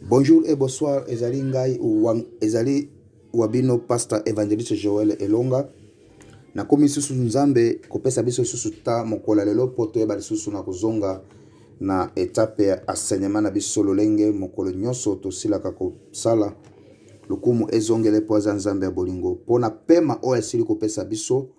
Bonjour et bonsoir, ezali ngai wang, ezali wabino pasteur evangeliste Joël Elonga. Na komi susu Nzambe kopesa biso susu ta mokola lelo po toyeba lisusu na kozonga na etape ya enseignement na biso lolenge mokolo nyonso tosilaka kosala lokumu ezongele po aza Nzambe ya bolingo po na pema oyo asili kopesa biso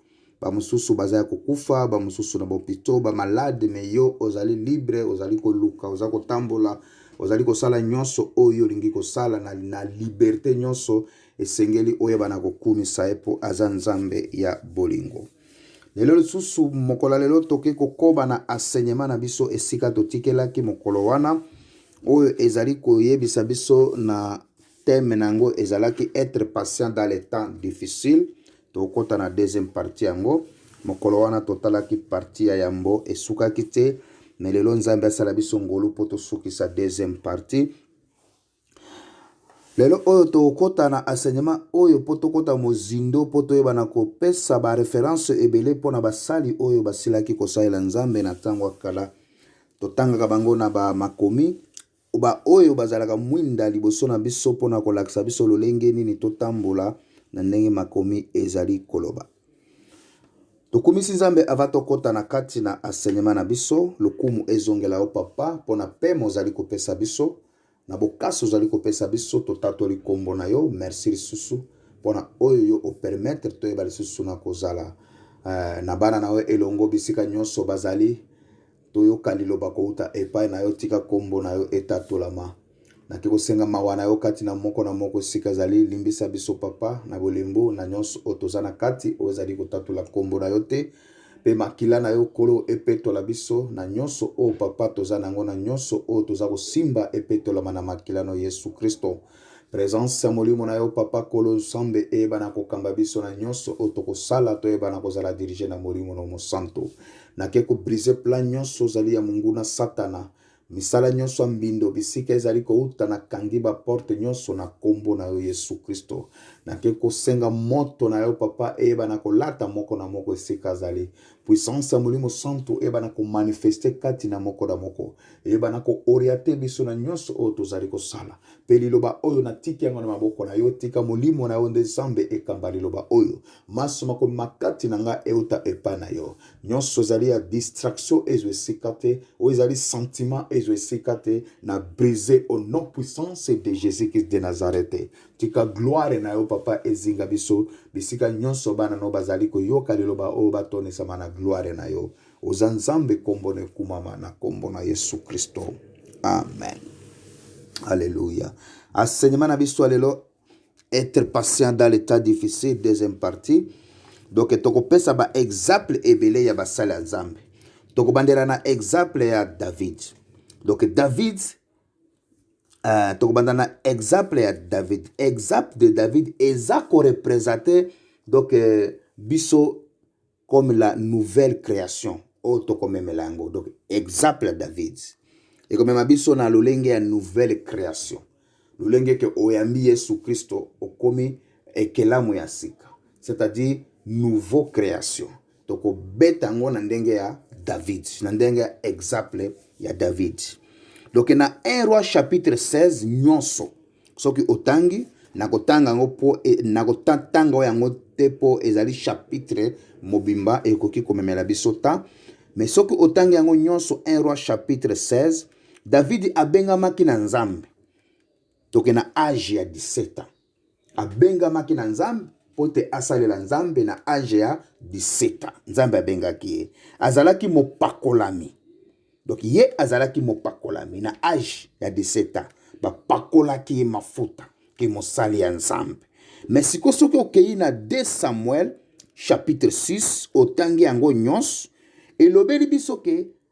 bamosusu baza ya kokufa bamosusu na bopito bamalade me yo ozali libre ozali koluka oza kotambola ozali kosala nyonso oyo olingi kosala na, na liberte nyonso esengeli oyeba na kokumisa ye mpo aza nzambe ya bolingo lelo lisusu mokolo ya lelo tokoki kokoba na asenyema na biso esika totikelaki mokolo wana oyo ezali koyebisa biso na teme na yango ezalaki etre patient dans le temps difficile Tokota na deuxième partie yango. Mokolo wana totalaki partie ya yambo esukaki te, mais lelo Nzambe asala biso ngolu mpo tosukisa deuxième partie. Lelo oyo tokota na enseignement oyo mpo tokota mozindo mpo toyeba na kopesa ba reference ebele mpo na basali oyo basilaki kosalela Nzambe na ntango ya kala. Totangaka bango na ba makomi baoyo bazalaka mwinda liboso na biso mpo na kolakisa biso lolenge nini totambola na ndenge makomi ezali koloba. Tokumisi Nzambe ava tokota na kati na asenema na biso. Lokumu ezongela yo papa mpo na pema ozali kopesa biso na bokasi ozali kopesa biso. Totatoli nkombo na yo. Merci lisusu mpo na oyo yo opermetre toyeba lisusu na kozala uh, na bana na yo elongo bisika nyonso bazali toyoka liloba kouta epai na yo, tika nkombo na yo etatolama. Nake kosenga mawa na yo kati na moko na moko esika ezali, limbisa biso papa na bolembu na nyonso oyo toza na kati oyo ezali kotatola nkombo na yo te mpe makila na yo nkolo epetola biso na nyonso oyo papa toza na yango na nyonso oyo toza kosimba epetolama na makila na yesu kristo Presence ya molimo na yo papa kolo nsambe eyebana kokamba biso na nyonso oyo tokosala toyebana kozala dirige na molimo na mosanto nake kobrise plan nyonso ozali ya monguna satana misala nyonso ya mbindo bisika ezali kouta na kangi baporte nyonso na nkombo na yo yesu kristo nake kosenga moto na yo papa eyeba na kolata moko na moko esika azali Puissance ya Molimo Santu eyebana komanifeste kati na moko na moko, eyebana kooriate biso na nyonso oyo tozali kosala. Mpe liloba oyo natiki yango na maboko na yo, tika Molimo na yo nde Zambe ekamba liloba oyo. Manso makomi makati na ngai euta epai na yo. Nyonso ezali ya distraction ezwa esika te, oyo ezali sentiment ezwa esika te, na brise au nom puissance de Jésus-Christ de Nazareth. Tika gloire na yo, Papa, ezinga biso bisika nyonso bana no bazali koyoka liloba oyo batondisama na gloire na yo. Oza Nzambe, kombo na ekumama na kombo na Yesu Kristo. Amen. Alléluia. Enseignement na biso lelo être patient dans l'état difficile deuxième partie. Donc tokopesa ba exemple ebele ya basali ya Nzambe. Tokobandela na exemple ya David. Donc David Uh, tokobanda na exemple ya david exemple de david eza korepresente donc euh, biso comme la nouvelle création oyo oh, tokomemela yango donc exemple ya david ekomema biso na lolenge ya nouvelle création lolenge ke oyambi yesu kristo okomi ekelamu ya sika c'est-à-dire nouveau création tokobeta yango na ndenge ya david na ndenge ya exemple ya david donk na 1 roi chapitre 16 nyonso soki otangi nakotanga yango mpo e, nakotanga yango te mpo ezali chapitre mobimba ekoki komemela biso ta me soki otangi yango nyonso 1 roi chapitre 16 davidi abengamaki na nzambe toke na age ya 17 ans abengamaki na nzambe mpo te asalela nzambe na age ya 17 nzambe abengaki ye azalaki mopakolami donc ye azalaki mopakolami na age ya 17 ans bapakolaki ye mafuta ke mosali ya nzambe me sikoyo soki okei na 2 samuel chapitre 6 otangi yango nyonso elobeli biso ke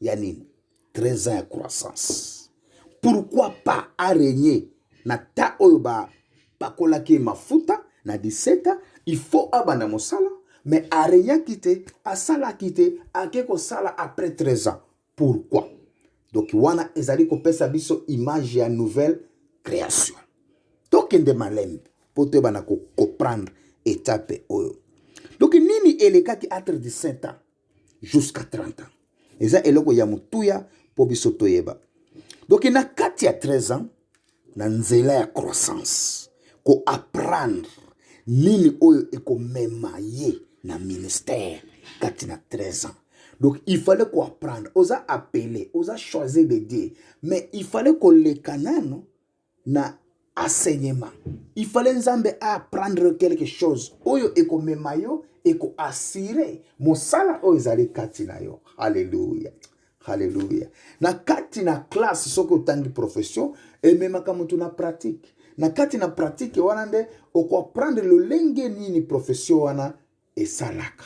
ya nini 13 ans ya croissance pourquoi pas aregne na ta oyo bapakolaki mafuta na 17 ans il faut abanda mosala mais aregnaki te asalaki te ake kosala après 13 ans pourquoi donc wana ezali kopesa biso image ya nouvelle création tokende malembe mpo toyebana kocomprendre etape oyo donc nini elekaki entre 17 ans jusqu'à 30 ans eza eloko ya motuya mpo biso toyeba donc na kati ya 13 ans na nzela ya croissance koapprendre nini oyo ekomema ye na ministère kati na 13 ans donc il fallait koapprendre oza appele oza choisir de dieu mais il fallait koleka nano na enseignement il fallait nzambe apprendre quelque chose oyo ekomema yo ekoassure mosala oyo ezali kati na yo halleluya halleluya na kati na classe soki otangi profession ememaka moto na pratique na kati na pratique wana nde okoapprendre lolenge nini profession wana esalaka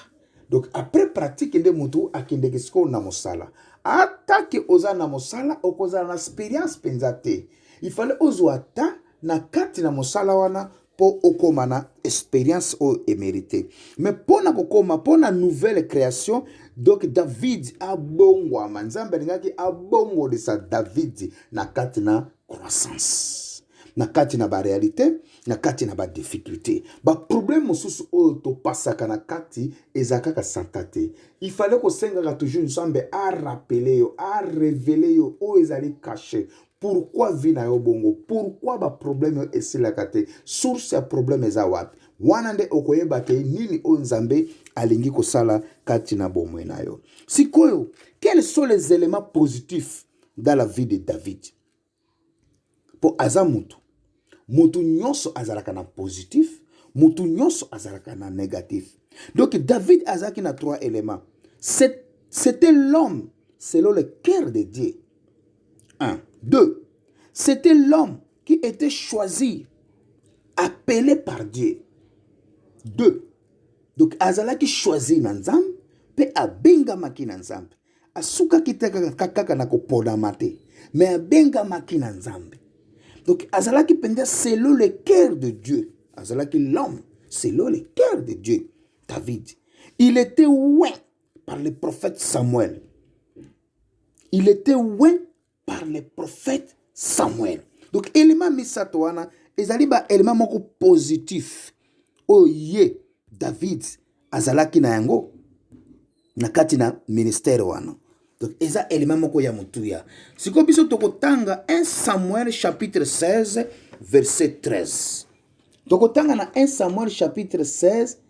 donc après pratique nde motu akendeke sikoyo na mosala atake oza na mosala okozala na experience mpenza te ifale ozwa ata na kati na mosala wana mpo okoma na experience oyo emerite me mpo na kokoma mpo na nouvelle création donc david abongwama nzambe alingaki abongolisa david na kati na croissance na kati na barealité na kati na badifficulté baproblème mosusu oyo topasaka na kati eza kaka santa te ifale kosengaka toujours nzambe arapele yo arevele yo oyo ezali kashe pourkui vi na yo bongo pourkui baproblème oyo esilaka te source ya problème eza wapi wana nde okoyeba te nini oyo nzambe alingi kosala kati na bomoi na yo sikoyo quels sont les éléments positifs dans la vie de david mpo aza motu motu nyonso azalaka na positif motu nyonso azalaka na negatif donc david azalaki na trois éléments c'était l'homme selon le cœur de dieu un deux c'était l'homme qui était choisi appelé par dieu deux donc azalaki choisi na nzambe mpe abengamaki na nzambe asukaki te kaka kaka na koponama te me abengamaki na nzambe donc azalaki mpenza selon le cœur de dieu azalaki l'homme selon le cœur de dieu david il était oint par le prophète samuel il était oint par le prophète Samuel. Donc élément misato wana ezali ba élément moko positif oyo ye David azalaki na yango na kati na ministère wana. Donc eza élément moko ya mutuya. Siko biso tokotanga 1 Samuel chapitre 16 verset 13. Tokotanga na 1 Samuel chapitre 16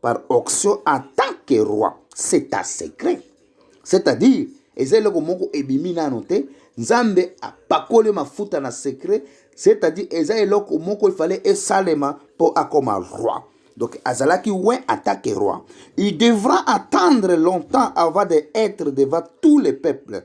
par auction en tant que roi c'est un secret c'est-à-dire eza eloko moko ebimi nano te nzambe apakoli mafuta na secret c'est-à-dire eza eloko moko ifale esalema mpo akoma roi donc azalaki we atake roi il devra attendre longtemps avant de être devant tous les peuples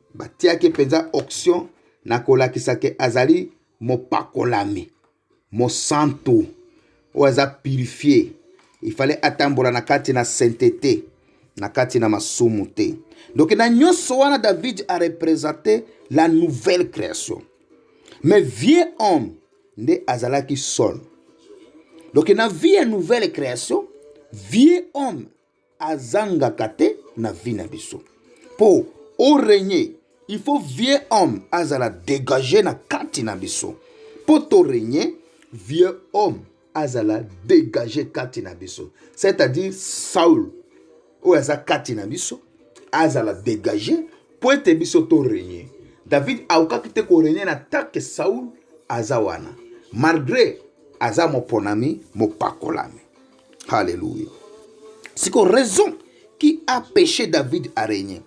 batiaki mpenza auction na kolakisa ke azali mopakolami mosantu oyo aza purifie ifale atambola na kati na saintete na kati na masumu te donc na nyonso wana david arepresente la nouvelle création mais vieux homme nde azalaki sol donc na vie ya nouvelle création vieux homme azangaka te na vie na biso po o regne il faut vieux homme azala dégage na kati na biso po to regne vieux homme azala dégage kati na biso c'est-à-dire saul oyo aza kati na biso azala dégage po ete biso to regne david aokaki te koregne na take saul aza wana malgré aza moponami mopakolami Alléluia. C'est quoi raison qui a péché David à régner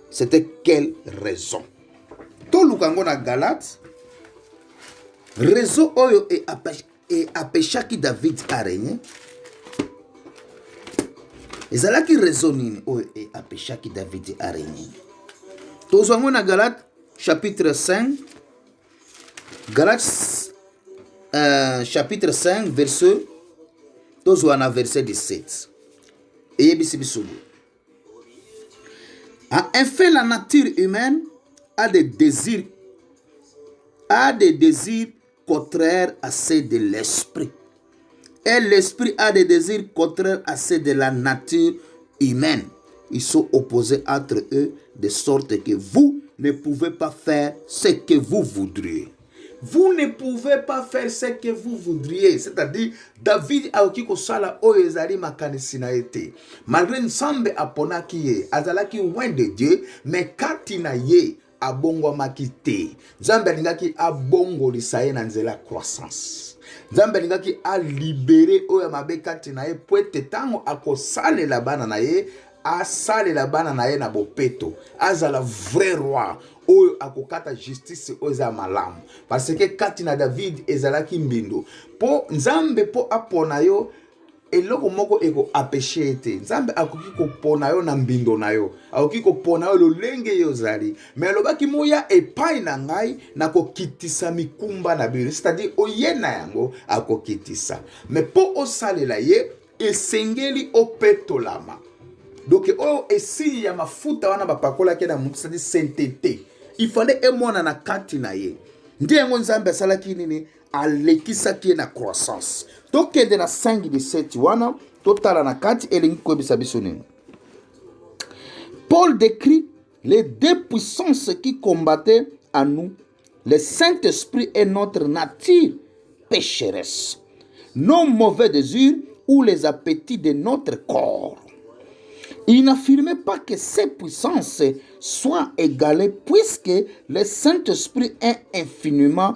C'était quelle raison toluka yango na galate réseau oyo e e apeshaki david aregne ezalaki réseau nini oyo e apeshaki david aregne tozwa yango na galate chapitre 5 Galates euh, chapitre 5 verset tozwa na verset 17 eyebisi biso boye en effet la nature humaine a des désirs a des désirs contraires à ceux de l'esprit Et l'esprit a des désirs contraires à ceux de la nature humaine. Ils sont opposés entre eux de sorte que vous ne pouvez pas faire ce que vous voudriez. Vous ne pouvez pas faire ce que vous voudriez. C'est-à-dire, David aoki kosala oyo ezali makanisi na ye te. Malgré Nzambe aponaki ye, azalaki loin de Dieu, mais kati na ye abongwamaki te nzambe alingaki abongolisa ye na nzela ya croissance nzambe alingaki alibere oyo ya mabe kati na ye mpo ete ntango akosalela bana na ye asalela bana na ye na bopeto azala vrai roi oyo akokata justice oyo eza ya malamu parce que kati na david ezalaki mbindo mpo nzambe mpo apona yo eloko moko ekoapeshe ye te nzambe akoki kopona yo na mbindo na yo akoki kopona yo lolenge ye ozali me alobaki moya epai na ngai na kokitisa mikumba na bino cetadire oye na yango akokitisa me mpo osalela ye esengeli opetolama donke oyo esili ya mafuta wana bapakolaki na motu cetadire saintete ifale emwana na kati na ye nde yango nzambe asalaki nini alekisaki ye na croissance tokende na 5 17 wana totala na kati elingi koyebisa biso nini paul décrit les deux puissances qui combattaient à nous le saint-esprit et notre nature pécheresse nos mauvais désirs ou les appétits de notre corps il n'affirmait pas que ces puissances soient égalées puisque le saint-esprit est infiniment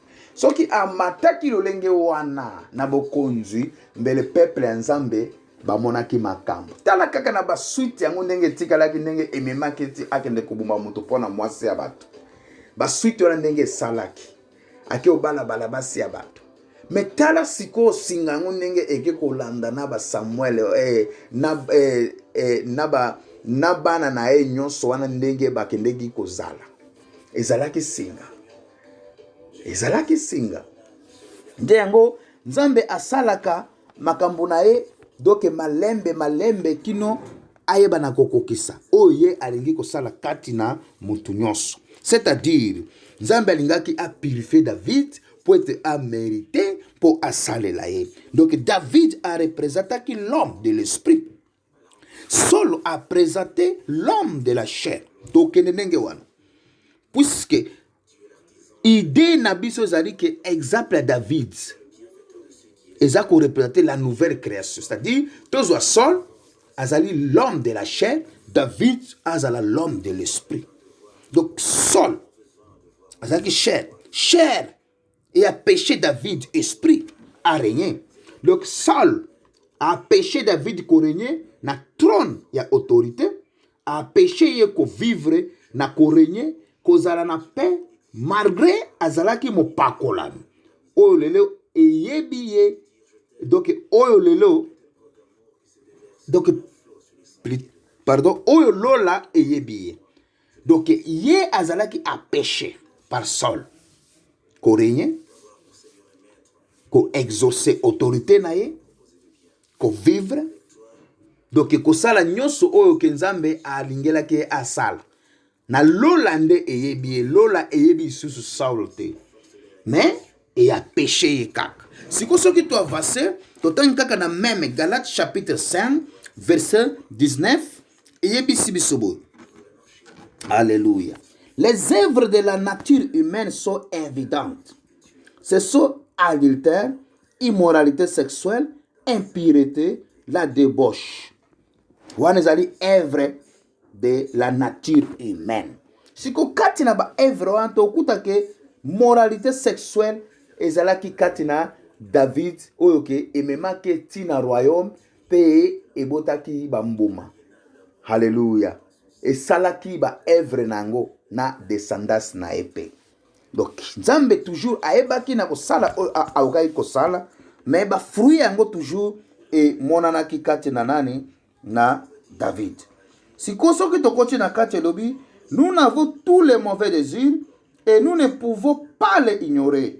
soki amataki lolenge wana na bokonzi mbele peple ya nzambe bamonaki makambo tala kaka na basuite yango ndenge etikalaki ndenge ememaki eti akende koboma moto mpo na mwasi ya bato basuite wana ndenge esalaki ake obalabala basi ya bato me tala sikoyo singa yango ndenge eke kolanda na basamuel eh, na, eh, eh, na, ba, na bana na ye nyonso wana ndenge bakendeki kozala ezalaki singa ezalaki singa nde yango nzambe asalaka makambo na ye doke malembe malembe kino ayebana kokokisa oyo ye alingi kosala kati na motu nyonso c'est-à-dire nzambe alingaki apurifie david mpo ete amerite mpo asalela ye donc david arepresentaki l'homme de l'esprit Saul a presente l'homme de la chair. Tokende ndenge wana. Puisque idée na biso ezali ke exemple ya David eza ko représenter la nouvelle création. C'est-à-dire tozwa Saul azali l'homme de la chair, David azala l'homme de l'esprit. Donc Saul azalaki chair, chair et a péché David esprit a régné donc Saul a péché David ko régné na trône ya autorité a péché ye ko vivre na ko régné kozala na paix malgré azalaki mopakolami oyo lelo eyebi ye donc oyo lelo donc pardon oyo lola eyebi ye donc ye azalaki apeche par sol koregne koexauce autorité na ye kovivre donc kosala nyonso oyo ke nzambe alingelaki ye asala na lola nde eyebi ye lola eyebi lisusu saul te mais eya peche ye kaka siko soki toavase totangi kaka na meme galate chapitre 5 verset 19 eyebisi biso boye alleluya les œuvres de la nature humaine sont évidentes ce sont adultère immoralité sexuelle impureté la debauche wana ezali œuvre de la nature humaine siko kati na baœuvre wana tokuta ke moralité sexuelle ezalaki kati na david oyo ke ememaki ntina royaume Mpe ebotaki bambuma. Haleluya. Esalaki baevre na yango na descendance na ye mpe. Donc Nzambe toujours ayebaki na kosala oyo aokaki kosala, me bafruit yango toujours emonanaki kati na nani? Na David. Sikoyo soki tokoti na kati elobi nous n'avons tous les mauvais désirs et nous ne pouvons pas les ignorer.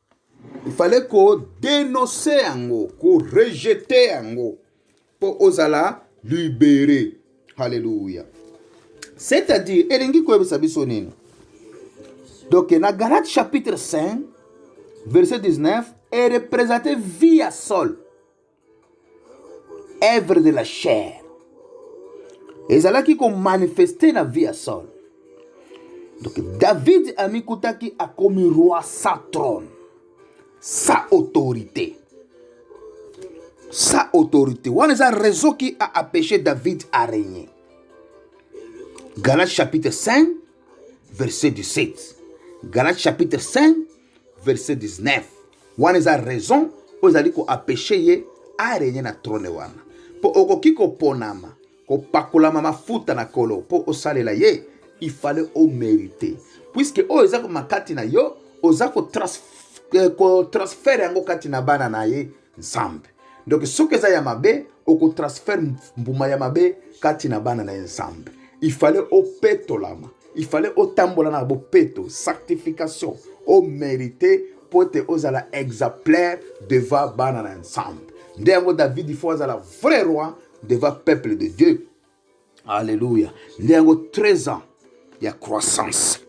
il fallait kodenonse yango korejete yango mpo ozala libere halleluya c'est-à-dire elingi koyebisa biso nini donc na galate chapitre 5 verset 19 erepresente vie ya sole œuvre de la chair ezalaki komanifeste na vie ya saul donc david amikutaki akomi roi sans trône sans autorité sans autorité wana eza raison qui a apêché david à régner galates chapitre 5 verset 17 galates chapitre 5 verset 19 wana eza raison oyo ezali koapeche ye arenye na trone wana mpo okoki koponama kopakolama mafuta na kolo mpo osalela ye ifale omerite puiske oyo eza komakati na yo oza kotransfere euh, yango kati na bana na ye nzambe donc soki eza ya mabe okotransfere mbuma ya mabe kati na bana na ye nzambe ifale opetolama ifale otambola na bopeto sanctification omerite mpo ete ozala exemplaire devant bana na nzambe nde yango davidi fo azala vrai roi devant peuple de dieu Alléluia. Nde yango 13 ans ya croissance.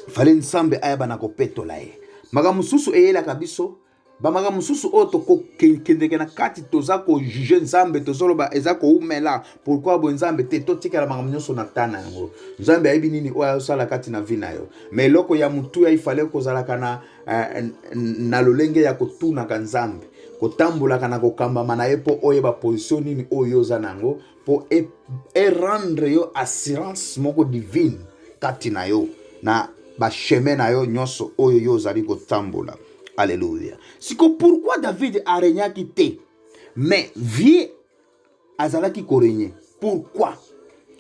Fale Nzambe ayaba na kopetola ye. Makambo mosusu eyelaka biso bamaka mosusu oyo tokokendeke na kati toza kojuge nzambe tozoloba eza koumela pourkui boye nzambe te totikala makambo nyonso na ta na yango nzambe ayebi nini oyo ayosala kati na vi na yo ma eloko ya motuya ifale kozalaka na eh, na lolenge ya kotunaka nzambe kotambolaka na kokambama na ye mpo oyeba position nini oyo oza na yango mpo erendre e yo assurance moko divine kati na yo na basheme na yo nyonso oyo yo ozali kotambola aleluya siko pourkui david aregnaki te mais vie azalaki korenye pourquoi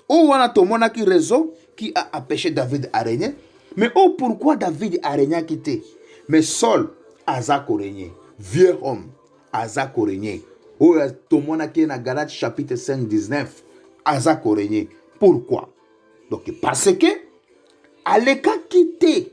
oyo wana tomonaki raison qui a empêché david arenye mais oyo pourquoi david arenyaki te mais saul aza korenye vieux homme aza korenye oyo tomonaki ye na galate chapitre 5 19 aza korenye pourquoi donc parce que alekaki te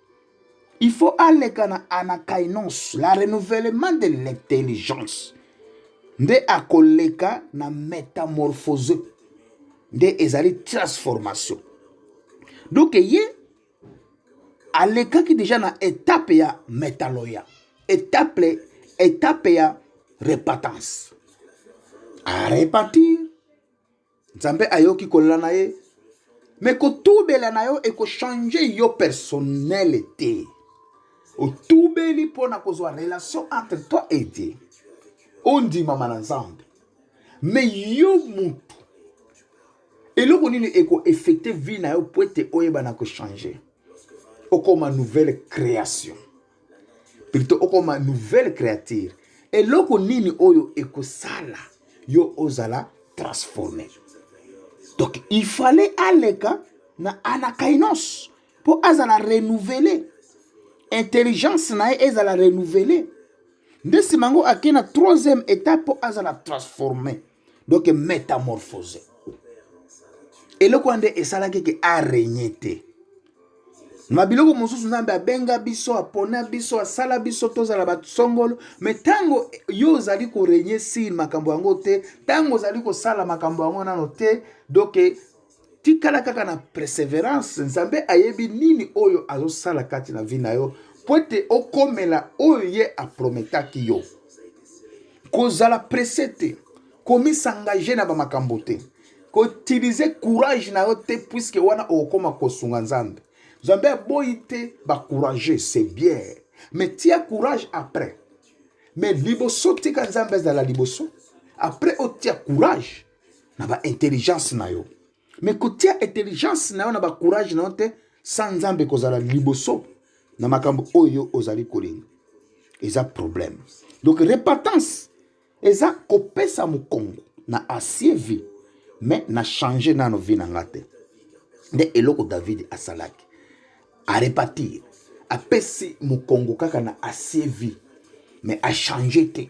il faut aleka na anakainos la renouvellement de l'intelligence nde akoleka na métamorphose nde ezali transformation donc ye alekaki deja na etape ya metaloya etape etape ya repentance arepentir nzambe ayoki kolela na ye me kotubela na yo ekochange yo personnele te otubeli mpo na kozwa relation entre toi et dieu ondimama na nzambe me yo mutu eloko nini ekoeffecte vie na yo mpo ete oyebana kochange okoma nouvelle création plutôt okoma nouvelle créature eloko nini oyo ekosala yo ozala transforme donc il fallait aleka na anakainos mpo azala renouvele intelligence na ye ezala renouvele nde nsima yango akei na troisième état mpo azala transforme donc metamorphose eloko wana nde esalaki ke arenye te na biloko mosusu nzambe abenga biso apona biso asala biso tozala bato songolo me ntango yo ozali korenye sile makambo yango te ntango ozali kosala makambo yango nano te doke tikala kaka na perseverance nzambe ayebi nini oyo azosala kati na vi na yo mpo ete okomela oyo ye aprometaki yo kozala presse te komisangage na bamakambo te koutilize courage na yo te puiske wana okokoma kosunga nzambe nzambe aboyi te bacourage c'est bien mais tia courage après mais liboso tika nzambe azala liboso après otia courage na ba intelligence na yo me kotia intelligence na yo na bacourage na yo te sa nzambe kozala liboso na makambo oyo ozali kolinga eza problème donc repentance eza kopesa mokongo na asie vie me na change nano vie na nga te nde eloko david asalaki arepatir apesi mokongo kaka na asie vie me achange te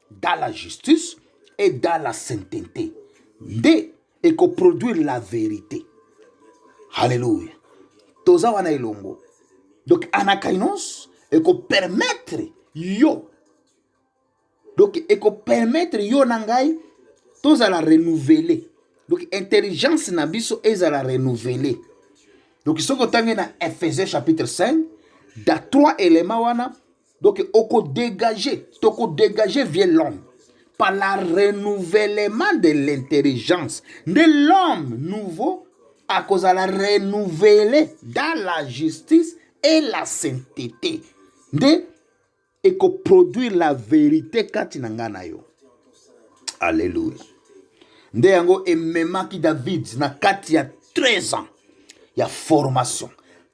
dans la justice et dans la sainteté nde ekoproduire la verité halleluya toza wana elongo donc anakainos ekopermettre yo donc ekopermettre yo na ngai tozala renouveler donc intelligence na biso ezala renouveler donc soki otangi na ephesie chapitre 5 da trois élément wana donc okodégage tokodégage vie l'homme par la renouvellement de l'intelligence nde l'homme nouveau akozala renouvele dans la justice et la sainteté nde ekoproduire la verité kati na ngai na yo alleluya nde yango ememaki david na kati ya 13 ans ya formation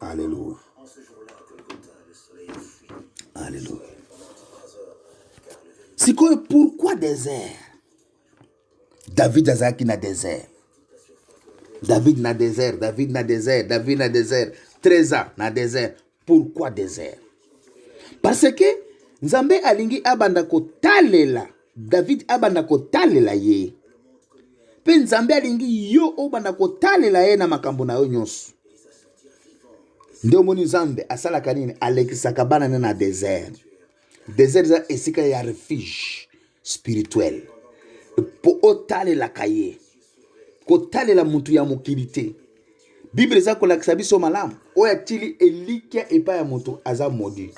Alléluia. Alléluia. C'est quoi pourquoi désert David Azaki na désert. David na désert, David na désert, David na désert. 13 ans na désert. Pourquoi désert? Parce que Nzambe alingi abanda kotalela David abanda kotalela ye. Mpe Nzambe alingi yo obanda kotalela ye na makambo na yo nyonso. Nde omoni Nzambe asalaka nini? Alekisaka bana ne na desert. desert eza esika ya refuge spirituel mpo otalelaka ye kotalela motu ya mokili te biblia eza kolakisa biso malamu oyo atili elikya epai ya moto aza modi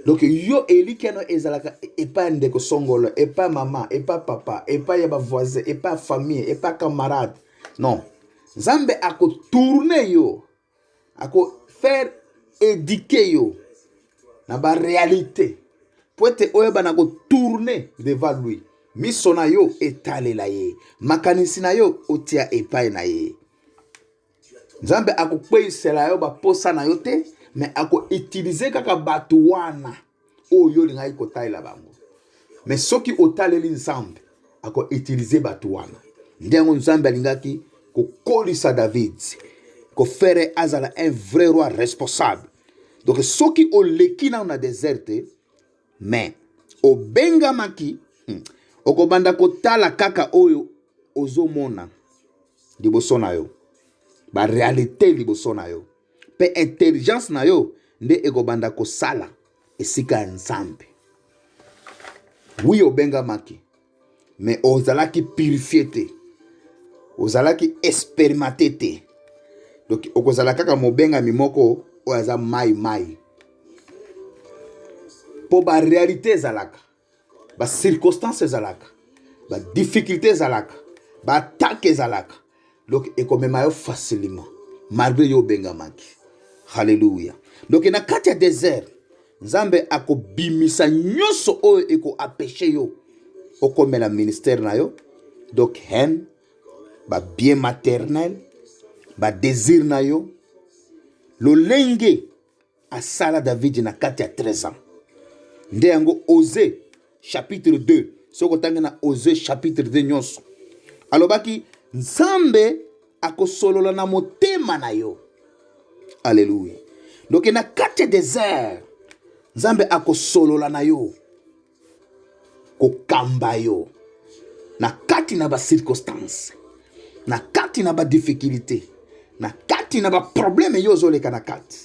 donc yo elikya no ezalaka epai ya ndeko songolo epai ya mama epai ya papa epai ya bavoisin epai ya famille epai ya camarade non nzambe akotourne yo ako faire éduquer yo na ba réalité po ete oyeba na kotourne devant lui miso na yo etalela ye makanisi na yo otia epai na ye nzambe akokweyisela yo baposa na yo te me akoutilize kaka bato wana oyo yo olingaki kotalela bango me soki otaleli nzambe akoutilize bato wana nde yango nzambe alingaki kokolisa david kofere azala un vrai roi responsable donc soki oleki nano na desert te me obengamaki hmm, okobanda kotala kaka oyo ozomona liboso na yo barealité liboso na yo mpe intelligence na yo nde ekobanda kosala esika ya nzambe wi obengamaki me ozalaki purifie te ozalaki experimente te donc okozala kaka mobengami moko oyo aza mai mai mpo barealité ezalaka ba circonstances ezalaka ba difficulté ezalaka ba attaque ezalaka donc ekomema yo facilement malgré yo obengamaki halleluya donc na kati ya désert nzambe akobimisa nyonso oyo ekoapeshe yo okomela ministère na yo donc haine babien maternel badésir na yo lolenge asala davidi na kati ya 13 ans nde yango ose chapitre 2 soki otangi na ose chapitre 2 nyonso alobaki nzambe akosolola na motema na yo aleluya doke na kati ya desert nzambe akosolola na yo kokamba yo na kati na bacirconstance na kati na badifficulté na kati na baprobleme yo ozoleka na kati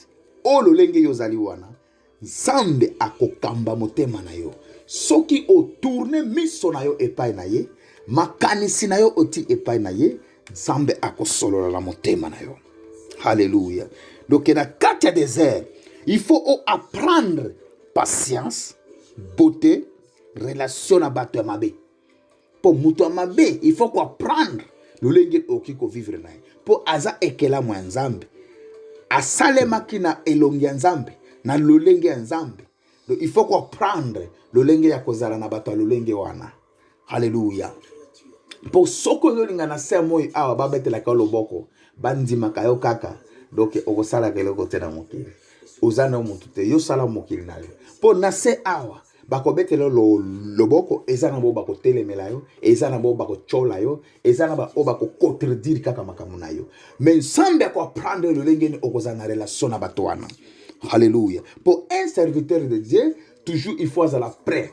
oyo lolenge yo ozali wana nzambe akokamba motema na yo soki otourne miso na yo epai na ye makanisi na yo oti epai na ye nzambe akosolola na motema na yo halleluya donc na kati ya desert il faut oapprendre patience beauté relation na bato ya mabe mpo moto ya mabe il faut koapprendre lolenge okoki kovivre na ye mpo aza ekelamu ya nzambe asalemaki na elongi ya nzambe na lolenge ya nzambe il faut koapprendre lolenge ya kozala na bato ya lolenge wana Alléluia. Pour soko ozolinga na se moi awa babetelaka yo loboko bandimaka yo kaka donc okosalaka eloko te na mokili oza na motu te yo sala mokili na yo mpo na se awa bakobetela lo, loboko eza na bao bakotelemela yo eza na bao bakotyola yo eza na baoyo bakocontredire kaka makambo na yo me nsambe akoaprendre lolenge ni okozala na relation na bato wana halleluya mpo un serviteur de dieu toujours il faut azala prêt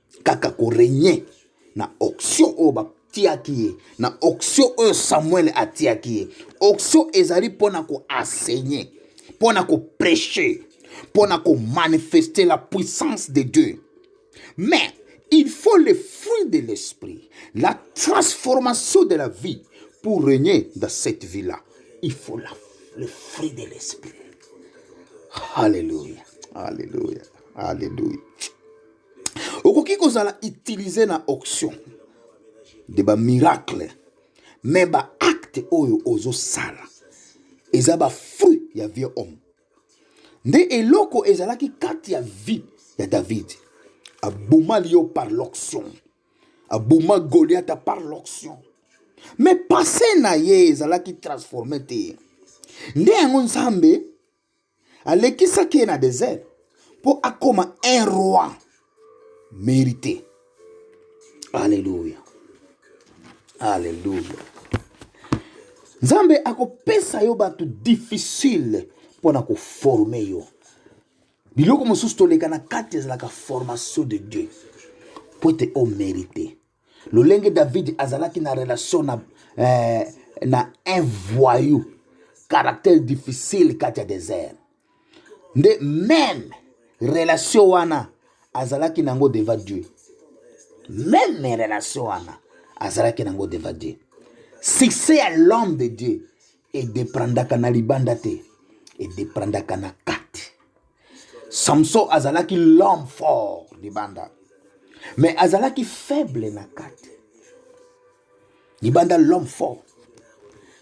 kaka korenye na auction oyo batiaki ye na auction oyo samuele atiaki ye auction ezali mpo na koenseigner mpo na koprêche mpo na komanifeste la puissance de dieu mais il faut le fruit de l'esprit la transformation de la vie pour régner dans cette vie là il faut la, le fruit de l'esprit alléluia alléluia alléluia okoki kozala utiliser na auction de ba miracle mais ba acte oyo ozosala eza ba fruit ya vieux homme nde eloko ezalaki kati ya vie ya davidi abomali yo par l'auction aboma goliata par l'auction mais passe na ye ezalaki transforme te nde yango nzambe alekisaki ye na desert mpo akoma un roi mérité alleluya alleluya nzambe akopesa yo bato difficile mpo na koforme yo biloko mosusu toleka na kati ezalaka formation de dieu mpo ete omérite oh, lolenge david azalaki na relation na, eh, na un voyou caractère difficile kati ya désert nde meme relation wana azalaki na yango devant dieu meme relation wana azalaki na yango devant dieu succès ya l'homme de dieu edeprandaka na libanda te edeprandaka na kati samson azalaki l'homme fort libanda mais azalaki faible na kati libanda l'homme fort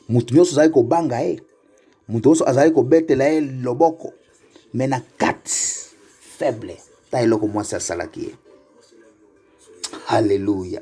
moto nyonso azalaki kobanga ye moto nyonso azalaki kobetela ye loboko mais na kati faible ta eloko mwasi asalaki ye haleluya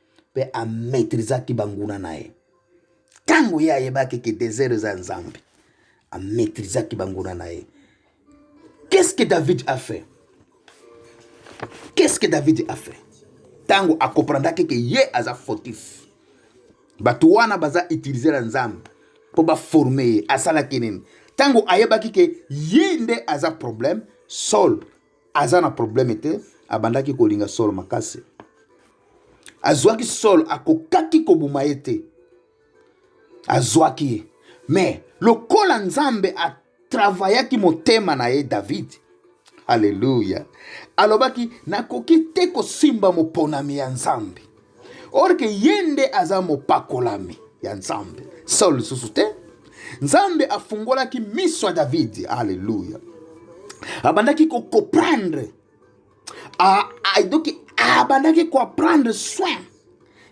mpe amaitrizaki banguna na ye ntango ye ayebaki ke desert eza nzambe amaitrizaki banguna na ye qu'est-ce que david a fait qu'est-ce que david a fait ntango akomprendaki ke ye aza fautif bato wana baza utilize na nzambe mpo baforme ye asalaki nini ntango ayebaki ke ye nde aza problème saul aza na probleme te abandaki kolinga solo makasi azwaki solo akokaki kobuma ye te azwaki ye me lokola nzambe atravayaki motema na ye david aleluya alobaki nakoki te kosimba moponami ya nzambe or ke ye nde aza mopakolami ya nzambe saul lisusu te nzambe afungolaki miso ya davidi aleluya abandaki kokomprendre doki abandaki koapprendre soin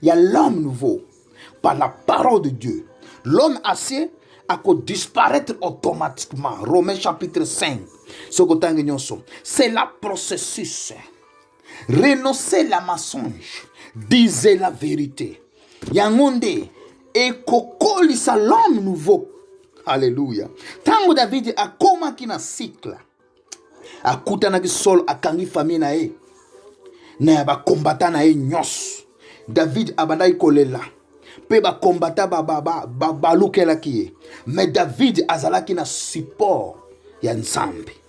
ya l'homme nouveau par la parole de dieu l'homme acier akodisparaître automatiquement romain chapitre 5 soki otangi nyonso c'est la processus renoncer la mensonge disait la vérité yango nde ekokolisa l'homme nouveau alleluya ntango davidi akomaki na sikla akutanaki solo akangi famille na ye na ya bakombata na ye nyonso davidi abandaki kolela mpe bakombata babalukelaki ye me davidi azalaki na support ya nzambe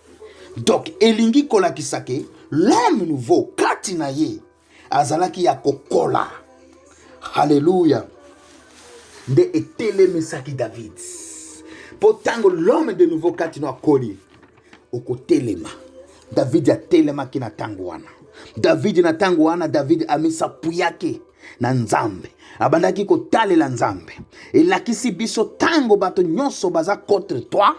donc elingi kolakisa ke l'homme nouveau kati na ye azalaki ya kokola haleluya nde etelemisaki david mpo ntango l'homme de nouveau kati na akoli okotelema davidi atelemaki na ntango wana davidi na ntango wana davidi amisapuyaki na nzambe abandaki kotalela nzambe elakisi biso ntango bato nyonso baza contre toi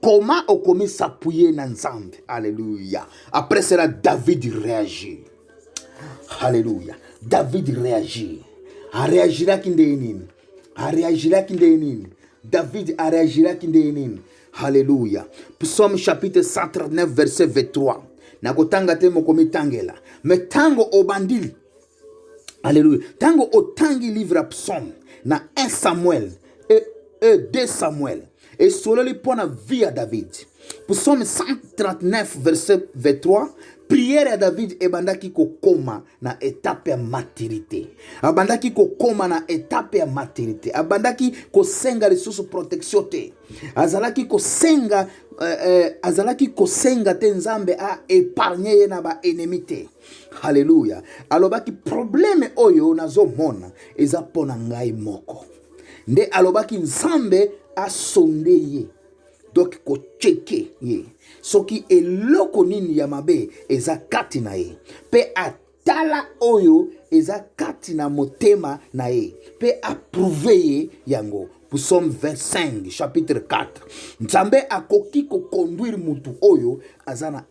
koma okomi sapuye na nzambe aleluya après cela david réagir aleluya david réagir areagiraki ndenge nini areagiraki ndenge nini david areagiraki ndenge nini aleluya psaume chapitre 139 verset 23 nakotanga te mokomitangela me ntango obandi Alléluia. Tango otangi livre ya psaume na 1 Samuel et, et 2 Samuel et sololi mpo na vie ya David. Psaume 139 verset 23 priere ya david ebandaki kokoma na etape ya maturité abandaki kokoma na etape ya maturité abandaki kosenga lisusu protection te azalaki kosenga eh, eh, azalaki kosenga te nzambe a epargne ye na baennemi te haleluya alobaki probleme oyo nazomona eza mpo na ngai moko nde alobaki nzambe asonde ye donk kocheke ye soki eloko nini ya mabe eza kati na ye mpe atala oyo eza kati na motema na ye mpe aprouve ye yango psaume 25 chapitre 4 nzambe akoki kokonduire motu oyo aza na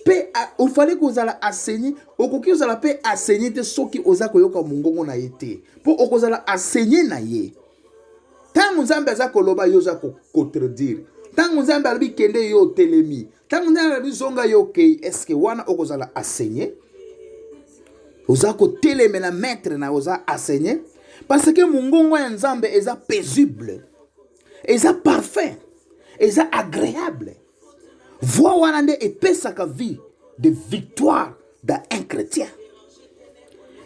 mpe ofali kozala aseni okoki kozala mpe aseni te soki oza koyoka mongongo na ye te mpo okozala aseni na ye ntango nzambe aza koloba yo oza kocontredire ntango nzambe alobi kende yo otelemi ntango nzambe alobi zonga yo okei eske wana okozala asenye oza kotelemela maître na oza asenye parce que mongongo ya nzambe eza paisible eza parfait eza agréable Voix wana nde epesaka vie de victoire d'un un chrétien.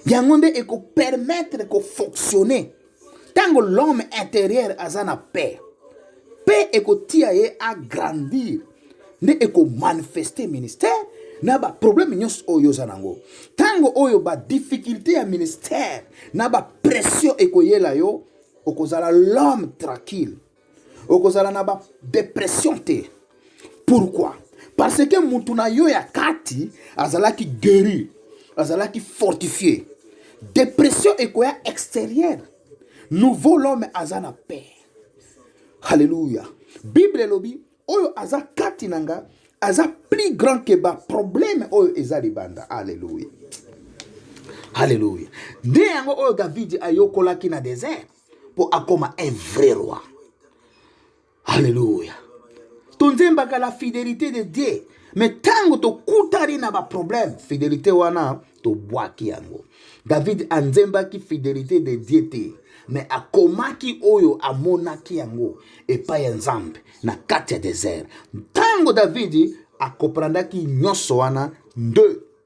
Yango nde eko permettre ko fonctionner. Tango l'homme intérieur aza na paix. Paix ekotia ye a grandir. Nde eko manifester ministère na ba problème nyonso oyo oza nango. Tango oyo ba difficulté ya ministère na ba pression ekoyela yo okozala l'homme tranquille. okozala na ba depression te pourquoi parce que mutu na yo ya kati azalaki guéri azalaki fortifie depression ekoya extérieure nouveau l'homme aza na paix halleluya bible elobi oyo aza kati na nga aza plus grand que ba problème oyo eza libanda halleluya halleluya nde yango oyo davidi ayokolaki na desert mpo akoma un vrai roi alleluya tonzembaka la fidelité de dieu me ntango tokutani na baproblème fidelité wana tobwaki yango david anzembaki fidelité de dieu te me akomaki oyo amonaki yango epai ya nzambe na kati ya desert ntango davidi akoprandaki nyonso wana nde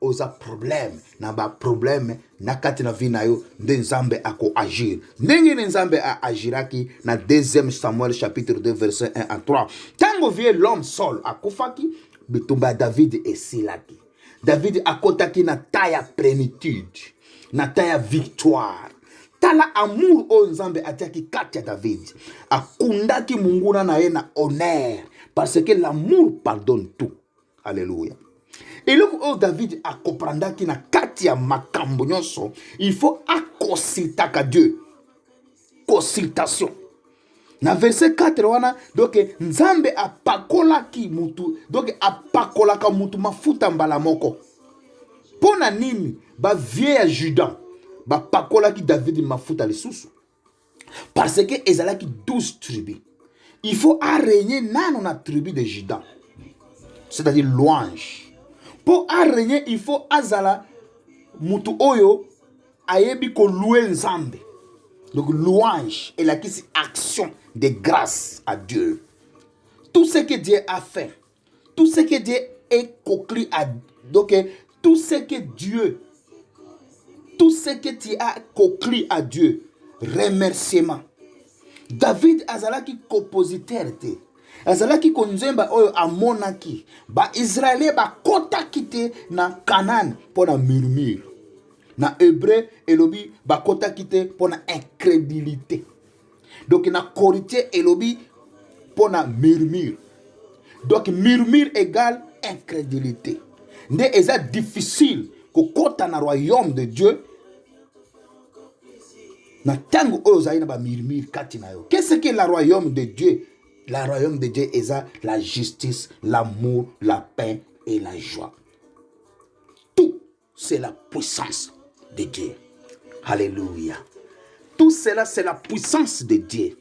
oza problème na ba problème na kati na vie na yo nde nzambe akoagir ndenge ne nzambe aagiraki na deuxième samuel chapitre 2 verset 1 à 3 ntango vie l'homme saul akufaki bitumba ya david esilaki david akotaki na ta ya plénitude na ta ya victoire tala amour oyo nzambe atiaki kati ya david akundaki monguna na ye na honneur parce que l'amour pardonne tout Alléluia. Et le coup, oh, David a compris qu'il n'a qu'à dire ma cambonioso, il faut à consulter à Dieu. Consultation. Na verset 4, wana, donc, Nzambe a pakola ki mutu, donc, a pakola ka mutu mafuta mbala moko. Pona nini, ba vieux ya Judas, ba pakola ki David mafuta le sousou. parce que ezalaki 12 tribus il faut arégner nano na tribu de juda c'est-à-dire louange mpo arégner il faut azala motu oyo ayebi kolue nzambe donc louange elakisi action de grâce à dieu tout ce que dieu a fait Tout ce que Dieu est conclu à donc tout ce que Dieu tout ce que tu as conclu à Dieu remerciement David azalaki compositeur te azalaki konzemba oyo amonaki baisraele bakotaki te na kanane mpo na murmure na hebreu elobi bakotaki te mpo na incrédulité donc na corité elobi mpo na murmure donc murmure égale incrédulité nde eza difficile kokɔta na royaume de dieu na ntango oyo ozali na bamurmure kati na yo qu'est ce que la royaume de dieu la royaume de dieu eza la justice l'amour la paix et la joie C'est la puissance de Dieu. Alléluia. Tout cela, c'est la puissance de Dieu.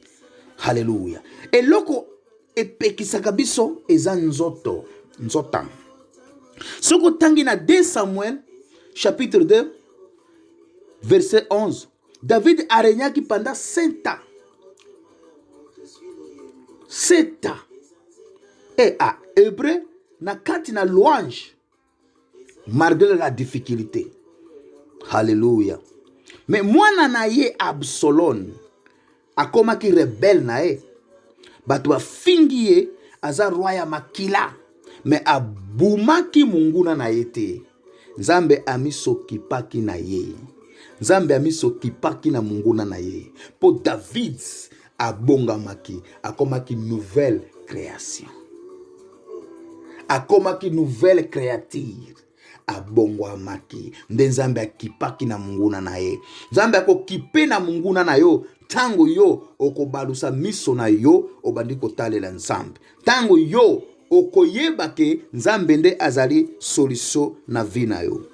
Alléluia. Et loko epekisaka biso eza nzoto nzota soki otangi na 2 samuel chapitre 2 verset 11 david aregnaki pendant 7 ans 7 ans e a hébreu na kati na louange malgré la difficulté halleluya me mwana na ye absalone akomaki rebele na ye bato bafingi ye aza roi ya makila me abumaki monguna na ye te nzambe amisokipaki na ye nzambe amisokipaki na monguna na ye mpo david abongamaki akomaki nouvelle création akomaki nouvelle créature abongwamaki nde nzambe akipaki na monguna na ye nzambe akokipe na monguna na yo ntango yo okobalusa miso na yo obandi kotalela nzambe ntango yo okoyeba ke nzambe nde azali solution na vie na yo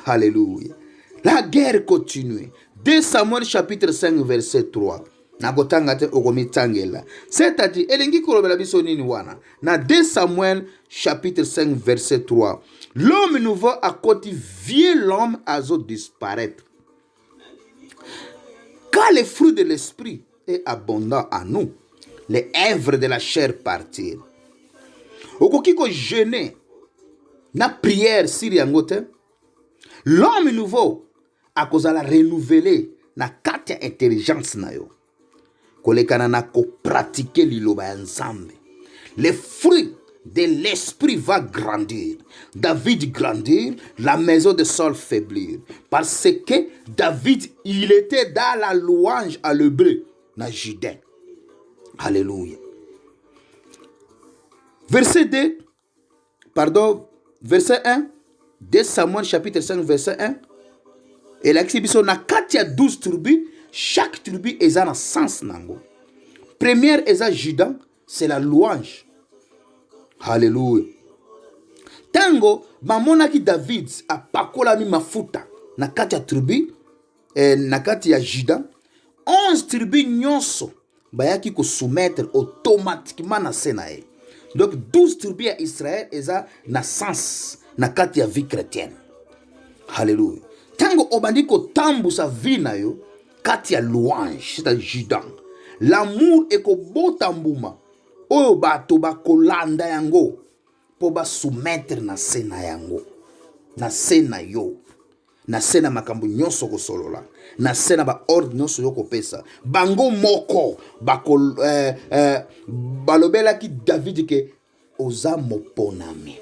halleluya la guerre continue 2 samuel chapitre 5 verset 3 nakotanga te okomitangela c'est-à-dire elingi kolobela biso nini wana na 2 samuel chapitre 5 verset 3 l'homme nouveau akoti vieux l'homme azo disparaître quand le fruit de l'esprit est abondant à nous les œuvres de la chair partir okoki kojeune na prière siri yango te l'homme nouveau akozala renouvele na kati ya intelligence na yo kolekana na kopratike liloba ya nzambe le fruit de l'esprit va grandir david grandir la maison de saul faiblir parce que david il était dans la louange à l'hebreu na judin alléluia verset 2 pardon verset 1 2 samuel chapitre 5 verset 1 elakisi biso na kati ya 12 tribu chaque tribu eza na sens na yango première eza juda c'est la louange halleluya ntango bamonaki david apakolami mafuta na kati ya tribu eh, na kati ya juda 11 tribu nyonso bayaki kosoumettre automatiquement na se na ye donc 12 tribu ya israel eza na sens na kati ya vie chrétienne halleluya ntango obandi kotambusa vie na yo kati ya louange c'est juda lamour ekobota mbuma oyo bato bakolanda yango mpo basoumettre na se na yango na se na yo na se na makambo nyonso okosolola na se na baordre nyonso yo kopesa bango moko bako, eh, eh, balobelaki davidi ke oza moponami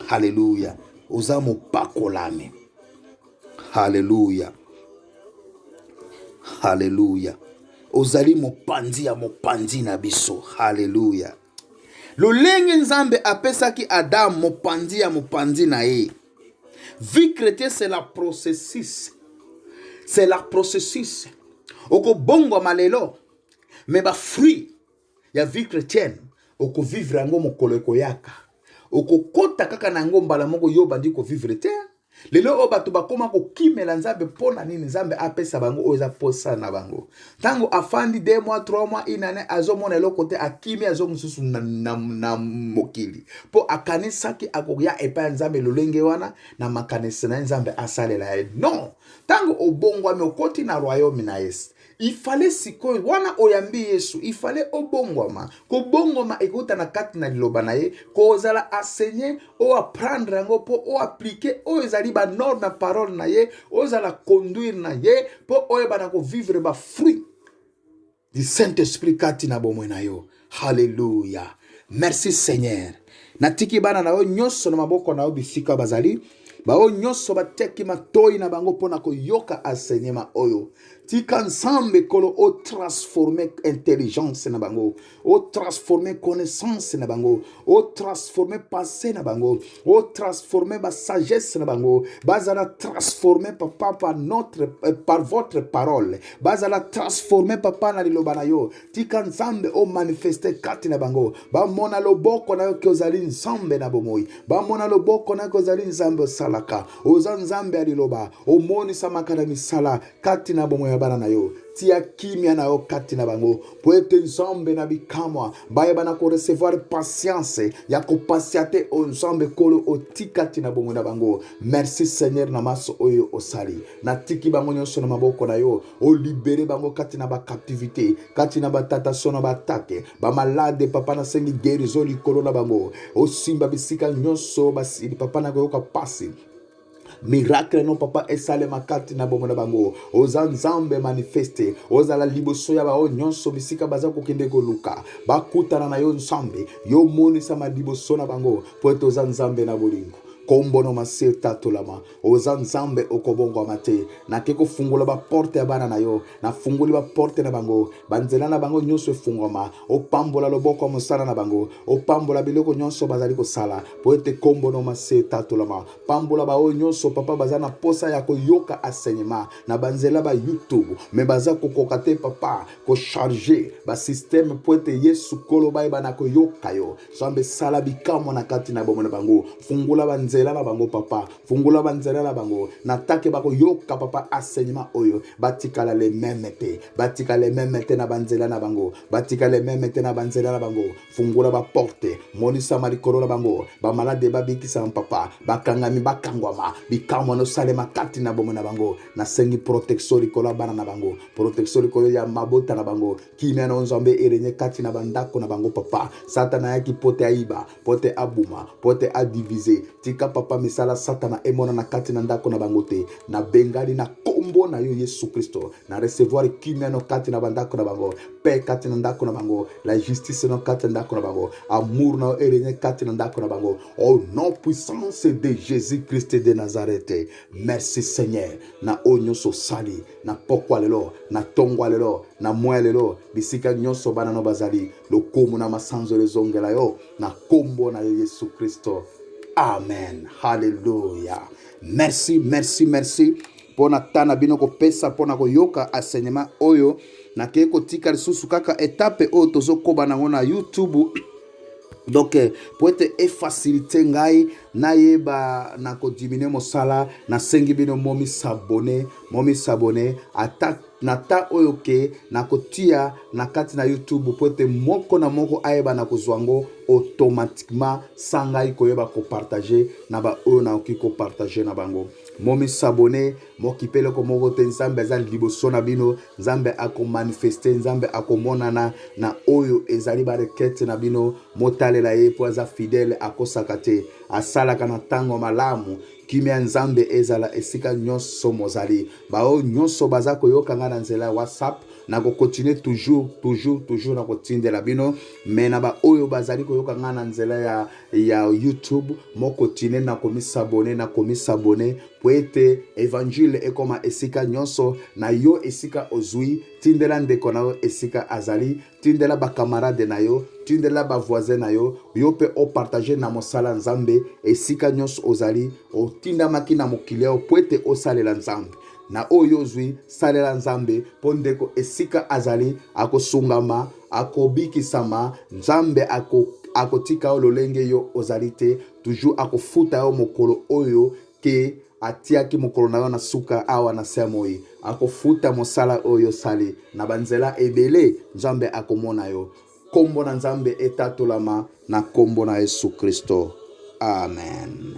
haleluya oza mopakolami haleluya haleluya ozali mopanzi ya mopanzi na biso haleluya lolenge nzambe apesaki adamu mopanzi ya mopanzi na ye vie chrétienne c'est la processus c'est la processus okobongwama lelo me bafruit ya vie chrétienne okovivre yango mokolo ekoyaka okokota kaka na yango mbala moko yo obandi kovivre te lelo oyo bato bakóma kokimela nzambe mpo na nini nzambe apesa bango oyo eza mposa na bango ntango afandi de mwa trois mwa inane azomona eloko te akimi azo mosusu na, na, na mokili mpo akanisaki akoya epai ya nzambe lolenge wana na makanisi na ye nzambe asalela ye non ntango obongwami okoti na royaume na ye ifale sikoyo wana oyambi yesu ifale obongwama kobongwama ekouta na kati na liloba na ye kozala asenye o apprendre yango mpo o appliquer oyo ezali banorme ya parole na ye oyo ezala conduire na ye mpo oyeba na kovivre bafruit du saint esprit kati na bomoi na yo halleluya merci seigneur natiki bana na yo nyonso na maboko na yo bisika bazali baoyo nyonso batiaki matoi na bango mpo na koyoka enseignement oyo tika nzambe kolo otransforme intelligence na bango o transforme connaissance na bango o transforme pensée na bango o transforme ba sagesse na bango bazala transforme papa par notre euh, par votre parole bazala transforme papa na liloba na yo tika nzambe o manifeste kati na bango bamona loboko na yo ke ozali nzambe na bomoi bamona loboko na yo ke ozali nzambe osalaka oza nzambe ya liloba omonisamaka na misala kati na bomoi ya bana na yo tia kimia na yo kati na bango mpo ete nzambe na bikamwa bayeba na korecevoir patience ya kopasia te oyo nzambe kolo oti kati na bomoi na bango merci seigneur na maso oyo osali natiki bango nyonso na maboko na yo olibere bango kati na bacaptivité kati na batatasio na baatake bamalade papa nasengi guerizo likolo na bango osimba bisika nyonso basili papa na koyoka mpasi miracle no papa esalema kati na bomo na bango oza nzambe manifeste ozala liboso ya baoyo nyonso bisika baza kokende koluka bakutana na yo nzambe yo monisama liboso na bango mpo ete oza nzambe na bolingo nkombo na masi etatolama oza nzambe okobongwama te nake kofungola baporte ya bana na yo nafungoli baporte na bango banzela na bango nyonso efungwama opambola loboko ya mosala na bango opambola biloko nyonso bazali kosala mpo ete nkombo na masi etatolama pambola baoyo nyonso papa baza na mposa ya koyoka enseignement na banzela ba youtube me baza kokoka te papa kocharge basysteme mpo ete yesu kolo bayeba na koyoka yo zambe sala bikamwa na kati na bomoi na bango fungola banzela na bango papa fungola banzela na bango na take bakoyoka papa enseignement oyo batikala le meme te batika le meme te na banzela na bango batika le meme te na banzela na bango fungola baporte monisama likolo na bango bamalade babikisama papa bakangami bakangwama bikamwa nosalema kati na bomo na bango nasengi protektio likolo ya bana na bango protektio likolo ya mabota na bango kimia na nzambe erenye kati na bandako na bango papa satana ayaki mpo te ayiba mpo te abuma mpo te adivize tika papa misala satana emonana kati na ndako na bango te nabengani na nkombo na yo yesu kristo na recevoir kimia no kati na bandako na bango paix kati na ndako na bango la justice no kati na ndako na bango amour na yo eregne kati na ndako na bango au nom puissance de jésus christ de nazareth merci seigneur na oyo nyonso osali na pokwa lelo na tongwa lelo na mwa lelo bisika nyonso bana no bazali lokumu na masanzolo ezongela yo na nkombo na yo yesu kristo amen halleluya merci merci merci mpo na ta na bino kopesa mpo na koyoka enseignement oyo nakei kotika lisusu kaka etape oyo tozokoba nango na youtube donc eh, mpo ete efacilite ngai nayeba na kodiminue mosala nasengi bino momisabone momi s'abonner ata na ta oyo ke nakotia na kati na youtube mpo ete moko na moko ayeba na kozwa yango automatiquement sans ngai koyeba kopartage na baoyo nakoki kopartage na bango momi s'abonner mokipe eloko moko te nzambe aza liboso na bino nzambe akomanifeste nzambe akomonana na oyo ezali barekete na bino motalela ye mpo aza fidele akosaka te asalaka na ntango malamu kimia ya nzambe ezala esika nyonso mozali baoyo nyonso baza koyoka ngai na nzela ya whatsapp nakokontinue toujours toujours toujours na kotindela bino me na baoyo bazali koyoka ngai na nzela ya, ya youtube mokontinue na komisabone na komisabone mpo ete evangile ekoma esika nyonso na yo esika ozwi tindela ndeko na yo esika azali tindela bacamarade na yo tindela bavoisin na yo yo mpe opartage na mosala nzambe esika nyonso ozali otindamaki na mokili yao mpo ete osalela nzambe na oyo ozwi salela nzambe mpo ndeko esika azali akosungama akobikisama nzambe ako akotika yo lolenge yo ozali te toujours akofuta yo mokolo oyo ke atiaki mokolo na yo na suka awa na se moi akofuta mosala oyo osali na banzela ebele nzambe akomona yo nkombo na nzambe etatolama na nkombo na yesu kristo amen